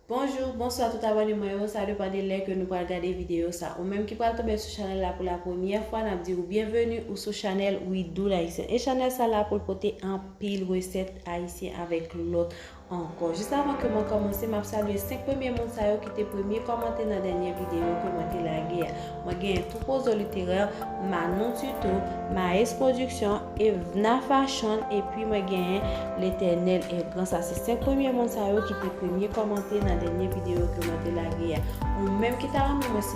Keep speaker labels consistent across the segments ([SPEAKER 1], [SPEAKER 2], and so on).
[SPEAKER 1] Bonjour, bonsoir tout abone mwen yo, sa depan de lè ke nou pral gade video sa. Ou menm ki pral tonbe sou chanèl la pou la premyè fwa, nap di ou byenveni ou sou chanèl Widoo L'Haïtienne. E chanèl sa la poul pote anpil resèt ayisyen avèk lòt Ankò. Jis avan ke mwen kòmanse, m ap salye 5 premye moun sa yo ki te premye kòmante nan dènye videyo ke mwen te lage a. Mwen genyen Toupozo Littéraire, Manon Tuto, Maes Production, Evna Fashion epi mwen genyen L'Eternel est Grand sa se 5 premye moun sa yo ki te premye kòmante nan dènye videyo ke mwen te lage a. Ou menm ki ta renmen mwen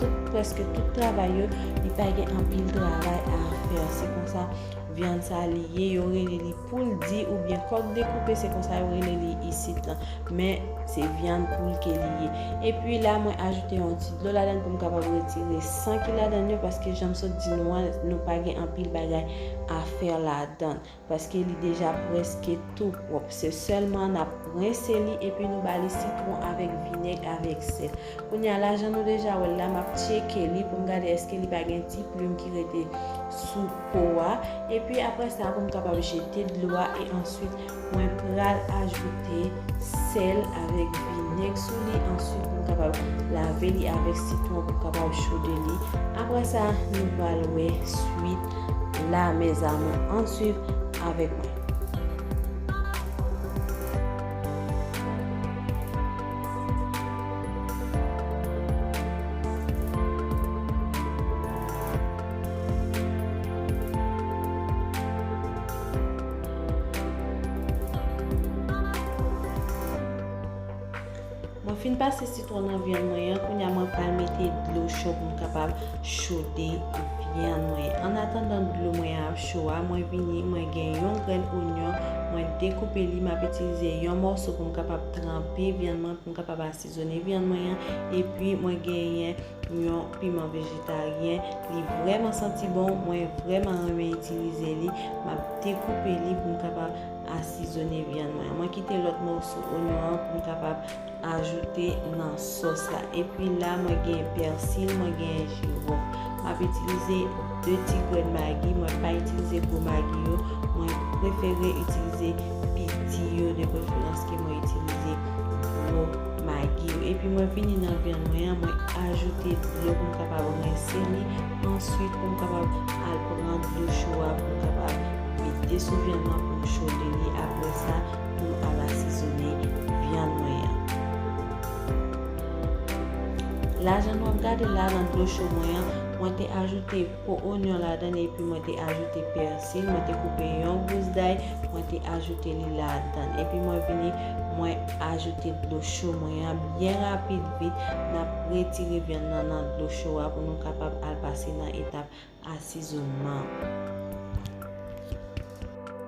[SPEAKER 1] Tout preske tout travay yo li pa gen anpil travay a fè se konsa vyann sa li ye yo rele li poul di ou byen kòk dekoupe se konsa yo rele li isit lan men se vyann poul ke li ye epi la mwen ajoute yon ti dlo ladann poum kapab retire san ki ladann yo paske janm sot di nou an nou pa gen anpil bagay a fè ladann. Paske li deja preske tou pwòp. Se sèlman nap rense li epi nou bali sitwon avèk vinèg avèk sèl. Kounya la jan nou deja wèl la map tyeke li poum gade eske li pa gen ti plim ki rete sou po a epi aprè sa poum kapab jete dlo a e answit mwen pral ajoute sèl avèk vinèg sou li answit nou kapab lave li avèk sitwon pou kapab chode li aprè sa nou pral wè swit la mes amour an swiv avèk mwen. Mwen fin pase sitwon nan vyann mwen an, kounya mwen pral mete dlo cho pou m kapab chode vyann mwen. An atandan dlo mwen ap cho a, mwen vini mwen gen yon grenn onyon, mwen dekoupe li, m ap itilize yon mòso pou m kapab tranpe vyann mwen, pou m kapab asizone vyann mwen an, epi mwen genyen. Pou yon piman vejetaryen li vrèman santi bon mwen vrèman renmen itilize li map dekoupe li pou m kapab asizone vyann mwen mwen kite lòt moso onyon an pou m kapab ajoute nan sòs la epi la mwen gen pèsil mwen gen jiwòf map itilize 2 ti grenn magi mwen pa itilize gwo magi yo mwen prefere itilize piti yo de preferans ke mwen itilize gwo Magi yo epi mwen vini nan vyann mwen an mwen ajoute dlo pou m kapab rense li answit pou m kapab al pran dlo cho a pou m kapab mete sou vyann mwen pou m chode li aprè sa pou m al asizone vyann mwen an la jan nou ap gade la nan dlo cho mwen an mwen te ajoute. po onyon ladann epi mwen te ajoute pèsil, mwen te koupe yon gous day, mwen te ajoute li ladann. Epi mwen vini, mwen ajoute dlo cho mwen an byen rapid vit, nap retire vyann nan nan dlo cho a pou nou kapab al pase nan etap asizonman.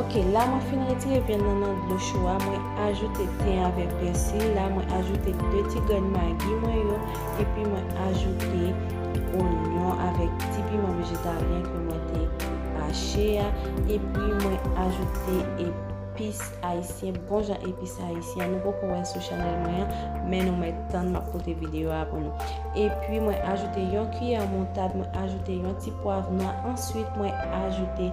[SPEAKER 1] Ok la mwen fin retire vyann nan nan dlo chou a mwen ajoute ten avèk pèsil la mwen ajoute 2 ti grenn magi mwen yo epi mwen ajoute onyon avèk ti piman vejetaryen ke mwen te hache a epi mwen ajoute Epis ayisyen bon jan epis ayisyen an nou poko wè sou chanèl mwen an men nou mèt tann map pote videyo a pou nou epi mwen ajoute yon kiyè moutad mwen ajoute yon ti pwav nwa answit mwen ajoute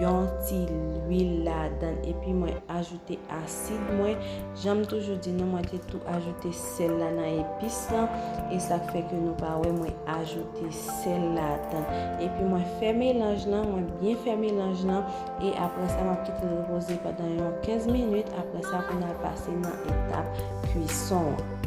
[SPEAKER 1] yon ti lwil ladann epi mwen ajoute asid mwen janm toujou di nou mwen te tou ajoute sèl la nan epis lan e sak fè ke nou pa wè mwen ajoute sèl ladann epi mwen fè melanj lan mwen byen fè melanj lan E apre sa map kite l repoze pandan yon 15 minit apre sa pou nal pase nan etap kwison an.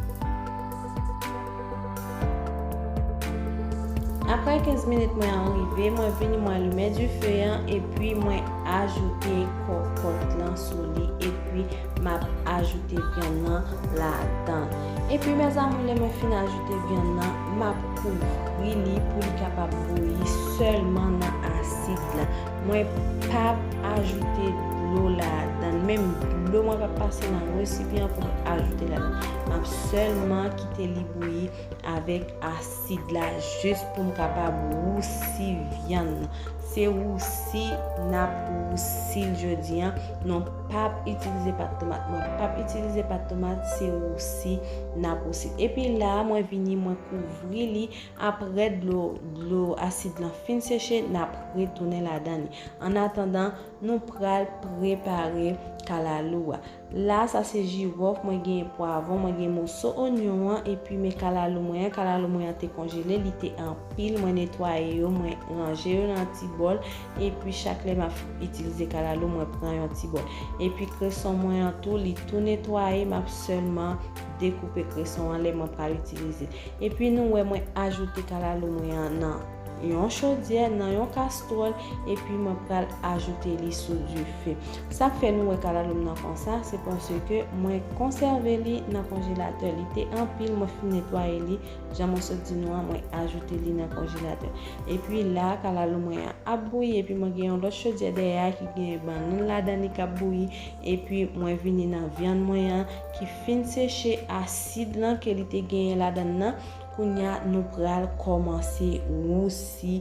[SPEAKER 1] Apre 15 minit mwen an rive mwen vini mwen limen dife an epi mwen ajoute kòkòt lan sou li epi map ajoute vyann nan ladan l. Epi mes amour lè mwen fin ajoute vyann nan map kouvri li pou li kapab bouyi sèlman nan asid la. Mwen pap ajoute dlo ladann, menm dlo mwen pap pase nan resipyan pou mwen ajoute ladann. Map sèlman kite li bouyi avèk asid la jis pou m kapab wousi vyann nan. Se wousi nap wousi l jodi an, non pap itilize pat tomat. Mwen pap itilize pat tomat, se wousi nap wousi l. Epi la mwen vini mwen kouvri li Apre dlo dlo asid lan fin seche nap retounen ladan li. An atandan nou pral prepare kalalou a. La sa se jirof, mwen gen pwavon, mwen gen moso onyon an epi men kalalou mwen an, kalalou mwen an te konjele li te anpil mwen netwaye yo mwen ranje yo nan ti bòl epi chak lè map itilize kalalou mwen pran yon ti bòl epi kreson mwen an tou li tou netwaye map sèlman dekoupe kreson an lè mwen pral itilize Epi nou wè mwen ajoute kalalou mwen an nan Yon chodyè nan Yon kastwòl epi mwen pral ajoute li sou dife sak fè nou wè kalalou m nan konsa se paske mwen konsève li nan konjelatè li te anpil mwen fin netwaye li jan mwen sot di nou an mwen ajoute li nan konjelatè epi la kalalou mwen an ap bouyi epi mwen gen Yon lòt chodyè dèyè a ki gen bannann ladan li kap bouyi epi mwen vini nan vyann mwen an ki fin seche asid lan ke li te genyen ladann nan, kounya nou pral kòmanse wousi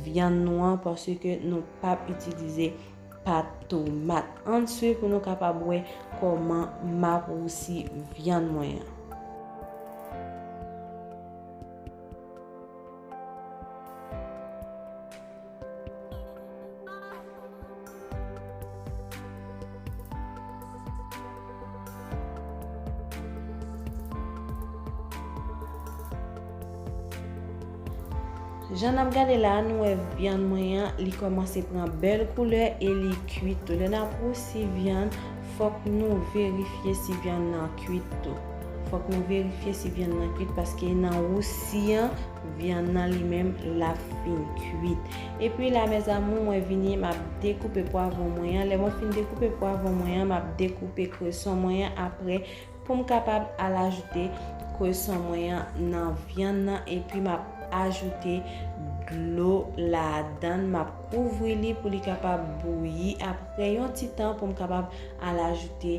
[SPEAKER 1] vyann nou an paske nou pap itilize pat tomat. Ann swiv pou nou kapab wè kòman map wousi vyann mwen an. Jan nap gade la nou wè vyann mwen an li kòmanse pran bèl koulè e li kuit tou. Lè nap wousi vyann, fòk nou verifye si vyann nan kuit tou. Fòk nou verifye si vyann nan kuit paske nan wousi an, Vyann nan li menm lap fin kuit. Epi la mes amour mwen vini map dekoupe pwavon mwen an lè mwen fin dekoupe pwavon mwen an map dekoupe kreson mwen an aprè poum kapab al ajoute kreson mwen an nan vyann nan epi map ajoute dlo ladann map kouvri li pou li kapab bouyi aprè yon ti tan poum kapab al ajoute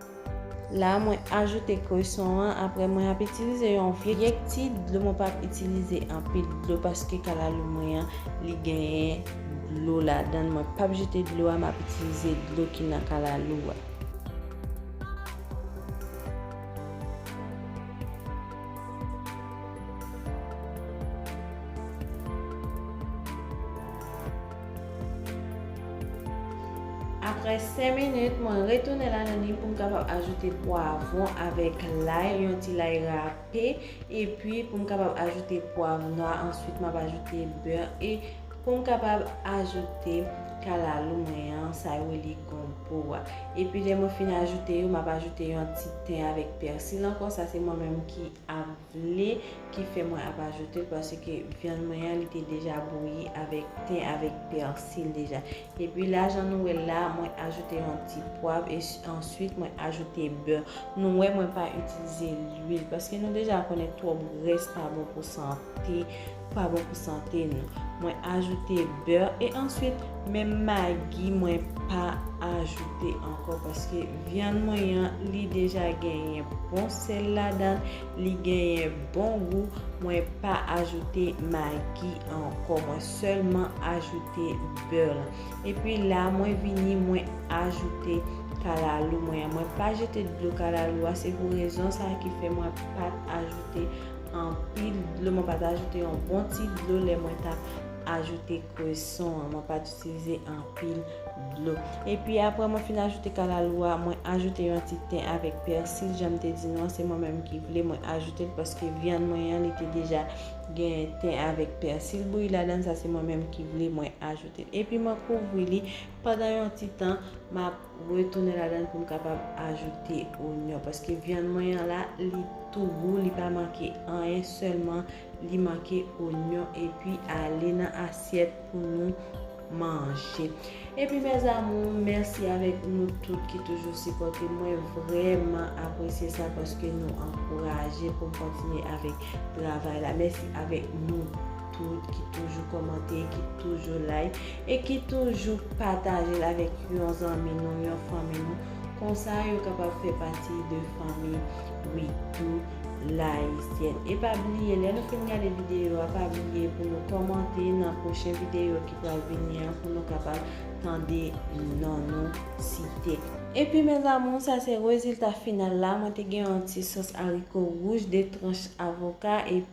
[SPEAKER 1] La mwen ajoute kreson an apre mwen ap itilize yon vye kti dlo mwen pap itilize anpil dlo paske kalalou mwen an li genyen dlo ladann mwen pap jete dlo a map itilize dlo ki nan kalalou a. Aprè 5 minit, mwen retounen la nan ni pou m kapab ajoute pwavon avèk lay, yon ti lay rape, epi pou m kapab ajoute pwav nwa, answit m ap ajoute bè e pou m kapab ajoute kalalou mwen an, sa yo rele gonpo a. Epi lè mwen fin ajoute yo, m ap ajoute yon ti ten avèk pèsil ankò, sa se mwen menm ki ap. le ki fè mwen ap ajoute paske vyann mwen an li te deja bouyi avèk ten avèk pèsil deja epi la jan nou wèl la mwen ajoute yon ti pwav e answit mwen ajoute bè nou wè mwen pa itilize lwil paske nou deja konnen twòp grès pa bon pou sante pa bon pou sante nou. Mwen ajoute beurre e answit menm magi mwen pa ajoute ankò paske vyann mwen an li deja genyen bon sèl ladann, li genyen bon gou, mwen pa ajoute magi ankò mwen sèlman ajoute beurre lan. Epi la mwen vini mwen ajoute kalalou mwen an, mwen pa jete dlo kalalou a se pou rezon sa ki fè mwen pat ajoute Anpil dlo mwen pat ajoute yon bon ti dlo lè mwen tap ajoute kreson an mwen pat itilize anpil dlo epi apre mwen fin ajoute kalalou a mwen ajoute yon ti ten avèk pèsil janm te di nou an se mwen menm ki vle mwen ajoute l paske vyann mwen an li te deja gen ten avèk pèsil bouyi ladan sa se mwen menm ki vle mwen ajoute l epi mwen kouvri li pandan yon ti tan map M retounen ladann pou m kapab ajoute onyon paske vyann mwen an la li tou gou li pa manke anyen sèlman li manke onyon epi ale nan asyèt pou nou manje epi mes amours mèsi avèk nou tout ki toujou sipòte mwen vrèman apresye sa paske nou ankouraje pou m kontinye avèk travay la mèsi avèk nou. tout ki toujou kòmante, ki toujou like e ki toujou pataje l avèk yon zanmi nou, yon fanmi nou. Konsa yo kapab fè pati de fanmi We Do L'Haïtienne. E pa bliye, lè nou fin gade videyo a, pa bliye pou nou kòmante nan pwochen videyo ki pral vini an pou nou kapab tande non nou site. Epi mes amours, sa se rezilta final la, mwen te gen yon ti sòs ariko wouj, 2 tranch avoka, epi.